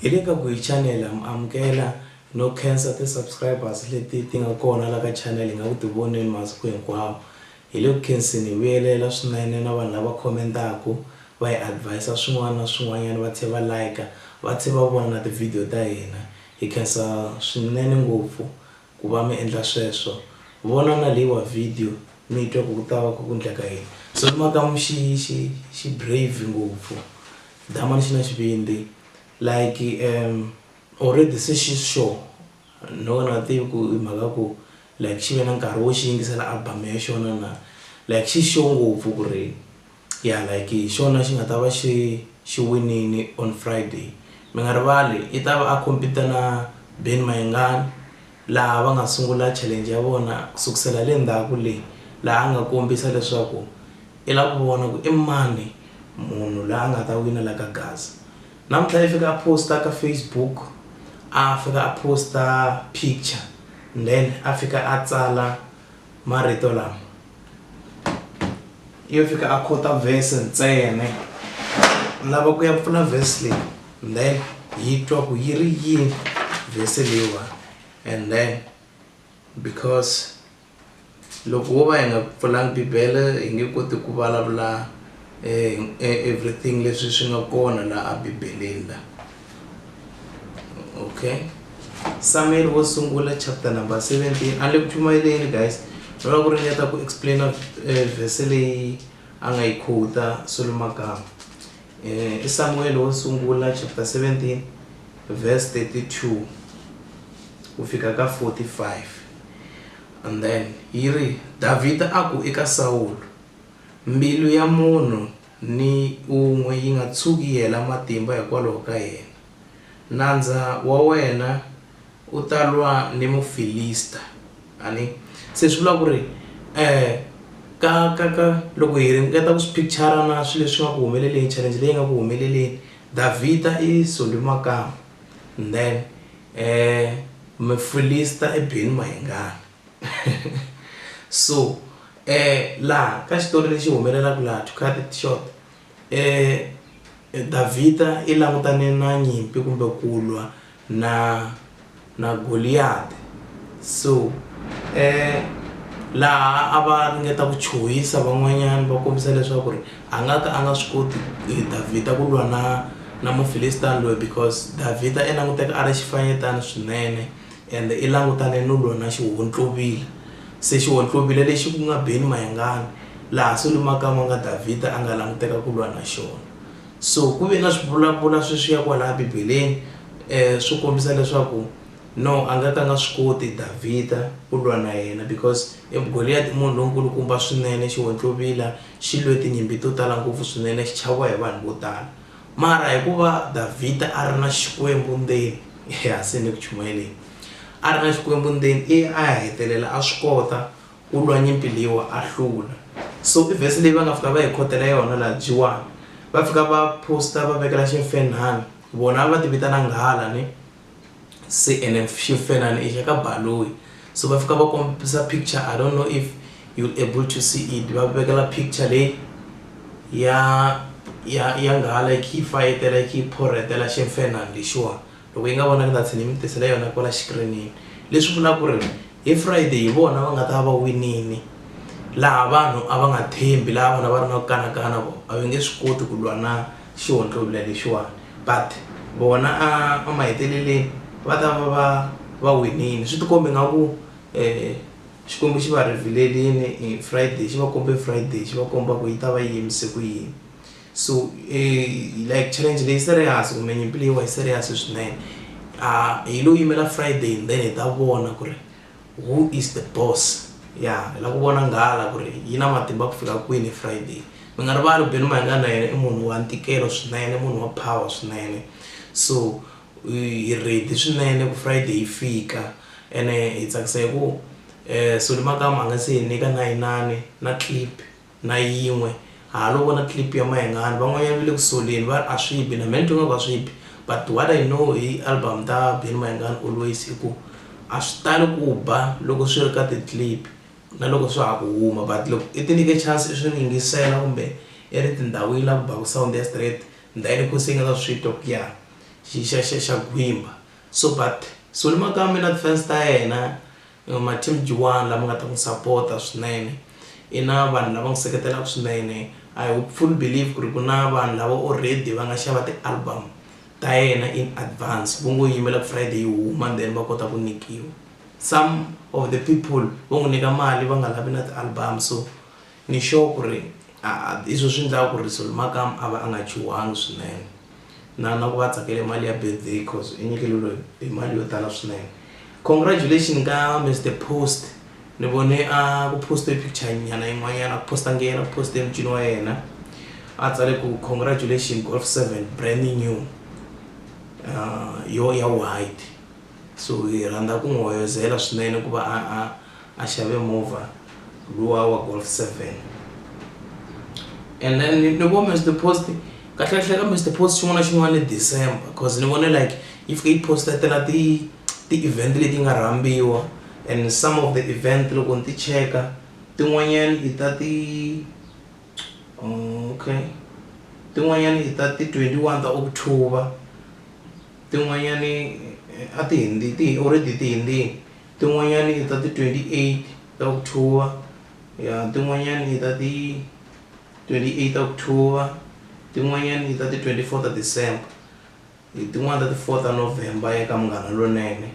hi le ka guhi chanel am amukela no khensa ti-subscribers leti ti nga kona la ka chanel hi nga ku tivoneni masiku hinkwawo hi le ku khenseni hi vuyelela swinene na vanhu lava khomentaku va hi advisa swin'wana na swin'wanyana va tlhe va like va tlhe va vona na tivhidiyo ta hina Hi khensa swinene ngopfu ku va mi endla sweswo. Vona na leyiwa vhidiyo mi twa ku ku ta va ku ku ndleka yini. Sesi Makamu xi xi xi brave ngopfu. Damani xi na xivindzi like umm already se xi sure no na tivi ku i mhaka ya ku like xi ve na nkarhi wo xi yingisela album ya xona na like xi sure ngopfu ku ri. ya like hi xona xi nga ta va xi xi winile on Friday mi nga rivali i ta va a compete na Ben Mayengani laha va nga sungula challenge ya vona ku sukusela le ndzhaku le laha a nga kombisa leswaku i lava ku vona ku i mani munhu la a nga ta wina la ka Gaza namuntlha yi fika a post-a ka Facebook a fika a post-a picture then a fika a tsala Marito lama yo fika a khota vhese ntsena lava ku ya pfula vhesi leyi and then yi twa ku yi ri yini vhesi leyiwa and then because loko wo va hi nga pfulanga bibele hi nge koti ku vulavula everything leswi swi nga kona laha bibeleni la okay samuel wo sungula chapter number 17 a le ku chumayeleni guys no lava ku ringeta ku explaina um eh, vhese leyi a nga yi khuta solo magama um eh, i samuel wo sungula chapter 17 verse 32 ku fika ka 45 and then yi ri davhida a ku eka sawulo mbilu ya munhu ni un'we yi nga tshuki yi hela matimba hikwalaho ka yena. Nandza wa wena u ta lwa ni Mufilista. A ni. Se swi vula ku ri, eh, ka, ka, ka, loko hi ringeta ku swi picture-ra na swilo leswi nga ku humeleleni, challenge leyi nga ku humeleleni, Davhida i sundhe makamba, then, eh, Mufilista i bile mahingani. so laha ka xitori lexi humelelaka laha to cut it short Davhida i langutane na nyimpi kumbe ku lwa na na Goliyati so laha a va ringeta ku chuhisa van'wanyana va kombisa leswaku ri a nga ka a nga swi koti Davhida ku lwa na na Mufilisita loyi because Davhida i languteka a ri xifanyetana swinene Ende i langutane no lona xihontlovila, se xihontlovila lexi ku nga Beni Mayengani, laha se lumakama nga Davhida a nga languteka ku lwa na xona. So ku ve na swivulavula sweswiya kwalaya Bibeleni swo kombisa leswaku no a nga ka nga swi koti Davhida ku lwa na yena because Goliyati i munhu lonkulukumba swinene, xihontlovila xi lwe tinyimpi to tala ngopfu swinene xi chaviwa hi vanhu vo tala. Mara hikuva Davhida a ri na Xikwembu ndzeni, ehasini ku chumayeleni, a ri na Xikwembu ndzeni, i a ya hetelela a swi kota ku lwa nyimpi leyiwa a hlula. So i verse leyi va nga fika va hi khotela yona laha Jiwani, va fika va post-a va vekela ximfenhana, vona a va ti vitana nghala ni. se ene ximfenani i xa ka Baloyi so va fika va kombisa picture I don't know if you able to see it va vekela picture leyi ya ya ya nghala yi kha yi fayetela yi kha yi phorhetela ximfenani lexiwani loko yi nga vona ni ta tlhela ni mi tisela yona kwala xikirinini leswi vulaka ku ri hi Friday hi vona va nga ta va winile laha vanhu a va nga tshembi laha vanhu a va ri na ku kanakana vona a va nge swi koti ku lwa na. xihontlovila lexiwani but vona a emaheteleleni va ta va va va winile swi tikombe nga ku Xikwembu xi va revhilelini hi Friday xi va kombe Friday xi va komba ku yi ta va yi yimise ku yini so like challenge leyi serious kumbe nyimpi leyiwa yi serious swinene hi lo yimela Friday then hi ta vona ku ri. Who is the boss? Ya, hi lava ku vona nghala ku ri yi na matimba ku fika kwini Friday. Mi nga rivali Benny Mayengani na yena i munhu wa ntikelo swinene, i munhu wa power swinene. So hi ready swinene ku Friday yi fika ene hi tsakisa hi ku Solly Makamu a nga se hi nyika na inani na clip. na yin'we halo vona clip ya mayengani van'wanyana va le ku soleni va a swi bi na me ni twa nga ku a swi bi but what i know hi album ta Benny Mayengani always i ku a swi tali ku ba loko swi ri ka ti clip na loko swa ha ku huma but loko i ti nyike chance i swi ri yingisela kumbe i ri tindhawini la ku baku sound ya straight ndhayini kho se i nga ta swi twa ku ya xi xa xa xa gwimba so but Solly Makamba na ti fans ta yena Ma team jiwani lama nga ta n'wi sapota swinene? I na vanhu lava n'wi seketelaka swinene? I hopefully believe ku ri ku na vanhu lava already va nga xava ti-album ta yena in advance vo ngo yimela ku Friday yi huma then va kota ku nyikiwa. Some of the people vo n'wi nyika mali va nga lavi na ti-album so Ni sure ku ri a hi swo swi ndlaka ku ri Solly Makamu a va a nga chuhangi swinene. Na na ku va a tsakele mali ya birthday coz i nyikeriwe hi mali yo tala swinene. Congratulations ka Mister Post ni vone a ku post-e picture nyana yin'wanyana a ku post-angi yena ku post-e mucini wa yena a tsale ku congratulations Golf seven brand new yoho ya white so hi rhandza ku n'wi hoyozela swinene ku va a a. a xave movha luwa wa golf seven and then ni vo mr post kahlekahle ka mr post xin'wana na xin'wana i december because ni vone like yi fike yi postatela ti ti-event leti nga rhambiwa and some of the event loko ni ti cheka tin'wanyani i ta ti okay tin'wanyani i ta ti twenty one ta october tin'wanyani a ti already ti hundzile. Tin'wanyana i ta ti 28 ta October ya tin'wanyana i ta ti 28 ta October tin'wanyana i ta ti 24 ta December hi tin'wana ta ti 4 ta November ya ka Munghana Lonene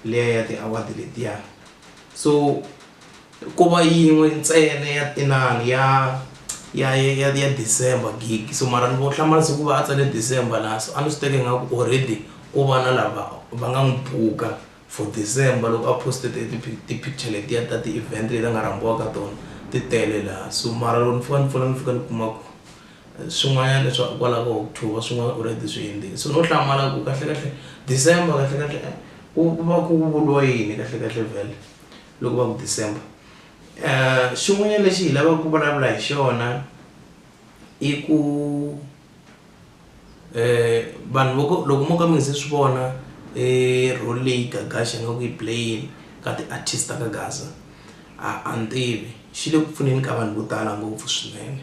liya ya ti award letiya so ko va yin'we ntsena ya inani ya ya ya ya December gig so mara ni vo hlamala se ku va a tsale December laha so a ni swi teka ingaku already ko va na lava va nga n'wi buka For December loko a poste ti ti ti picture letiya ta ti event leti a nga rhambiwa ka tona ti tele laha so mara loko ni fika ni pfula ni fika ni kuma ku swin'wanyana leswi a kwala ka October swin'wana already swi hundzile so no hlamala ku kahle kahle December kahle kahle ku ku va ku vuriwa yini kahle kahle vhele loko va ku December xin'wanyana lexi hi lavaka ku vulavula hi xona i ku. vanhu vo loko mo ka mi nga se swi vona role leyi Gagash a nga ku yi play-eni ka ti-artist ta ka Gaza a a ni tivi xi le ku pfuneni ka vanhu vo tala ngopfu swinene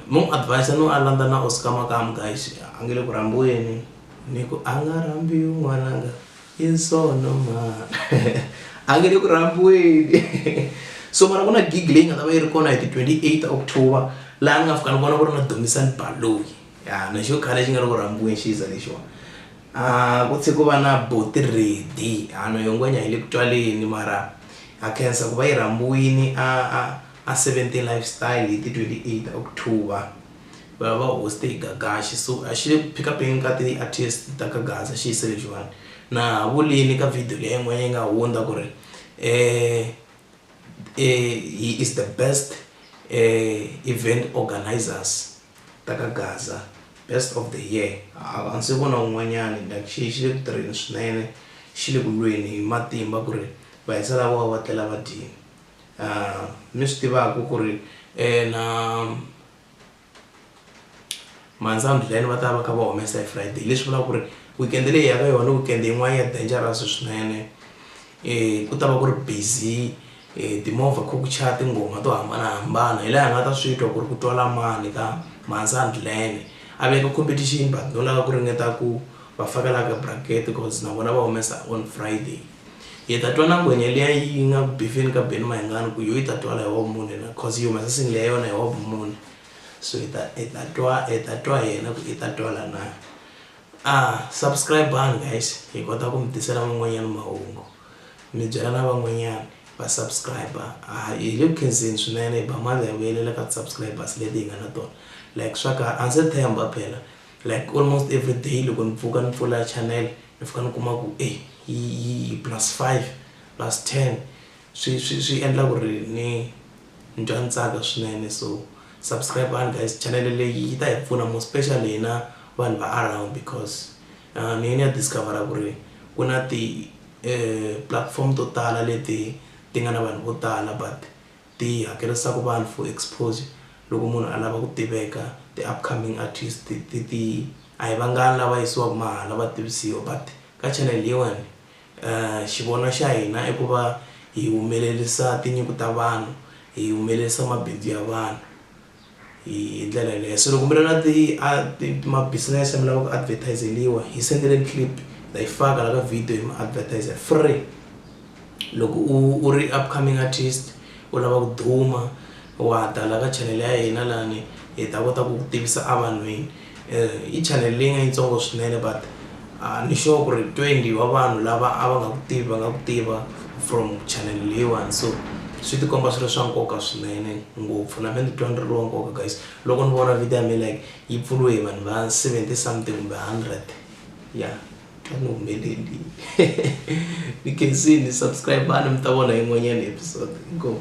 no n'wi advise-a no a landza na Oscar Makamu guys a nge le ku rhambiweni ni ku a nga rhambiwi n'wananga. in sono ma a nge le ku rhambiweni so mara ku na gig leyi nga ta va yi ri kona hi ti 28 october laha ni nga fika ni vona ku ri na domisani baloyi ya na xo khale xi nga ri ku rhambiweni xiza lexiwa a ah, ku tshe ku va na boti redi hano ah, yongwenya hi le ku twaleni mara a khensa ku va yi rhambiwini a a a 17 lifestyle hi ti 28 october va va hoste hi gagaxi so a xi le ku pick upeni ka ti-artist ta ka gaza xi yise lexiwani na ha vulini ka video leyi yin'wana yi nga hundza ku ri um he is the best um event organisers ta ka gaza best of the year a ndzi se vona un'wanyani like xi xi le ku tirheni swinene xi le ku lweni hi matimba ku ri va hisa lavo va va tlela va dyini um mi swi tivaku ku ri na. Mandza and Glen va ta va kha va humesa hi Friday leswi vulaka ku ri weekend leyi ya ka yona weekend yin'wana ya dangerous swinene um ku ta va ku ri busy um timovha kha ku chaya tinghoma to hambanahambana hi laha hi nga ta swi twa ku ri ku twala mani ka Mandza and Glen a veka competition but no lava ku ringeta ku va faka la ka bracket cause na vona va humesa on Friday. Hi ta twa na ngwenya liya yi nga ku bifeni ka Benny Mayengani ku yo yi ta twala hi hob mune na cause yi humesa single ya yona hi hob mune so hi ta hi ta twa hi ta twa yena ku i ta twala na a subscribe on guys hi kota ku mi tisela man'wanyana mahungu mi byela na van'wanyana va subscribe a hi le ku khenseni swinene hi ba mali ya vuyelela ka ti-subscribers leti hi nga na tona like swa ka a ndzi tshemba phela like almost every day loko ni pfuka ni pfula channel mi fika ni kuma ku e yi plus five plus ten swi swi swi endla ku ri ni ni twa ni tsaka swinene so subscribe-ani guys chanele leyi yi ta hi pfuna more special hina vanhu va around because uh, ni ye ni ya discovera ku ri ku na ti-platform eh, to tala leti ti nga na vanhu vo tala but Ti hakerisa ku vanhu for exposure loko munhu a lava ku tiveka ti upcoming artist ti ti ti a hi vangani lava yisiwaku mahala va tivisiwa but ka channel leyiwani xivono xa hina i ku va hi humelerisa tinyiko ta vanhu hi humelerisa mabindzu ya vanhu. hi ndlela yaleyo so loko mi ri na ti a ti ma business mi lava ku advertiseliwa hi sendeleni clip ta yi faka la ka video hi mi advertiser free loko u u ri upcoming artist u lava ku duma wa ta la ka channel ya hina lani hi ta kota ku ku tivisa a vanhwini i channel leyi nga yitsongo swinene but ni sure ku ri twenty wa vanhu lava a va nga ku tivi va nga ku tiva from channel leyiwani so swi ti komba swi ri swa nkoka swinene ngopfu na me ni titwa ni ri wa nkoka guys loko ni vona video ya me like yi pfuriwe hi vanhu va seventy something kumbe hundred ya twa ni humelelini ni khensile subscribe-ani mi ta vona yin'wanyani episode inkomu.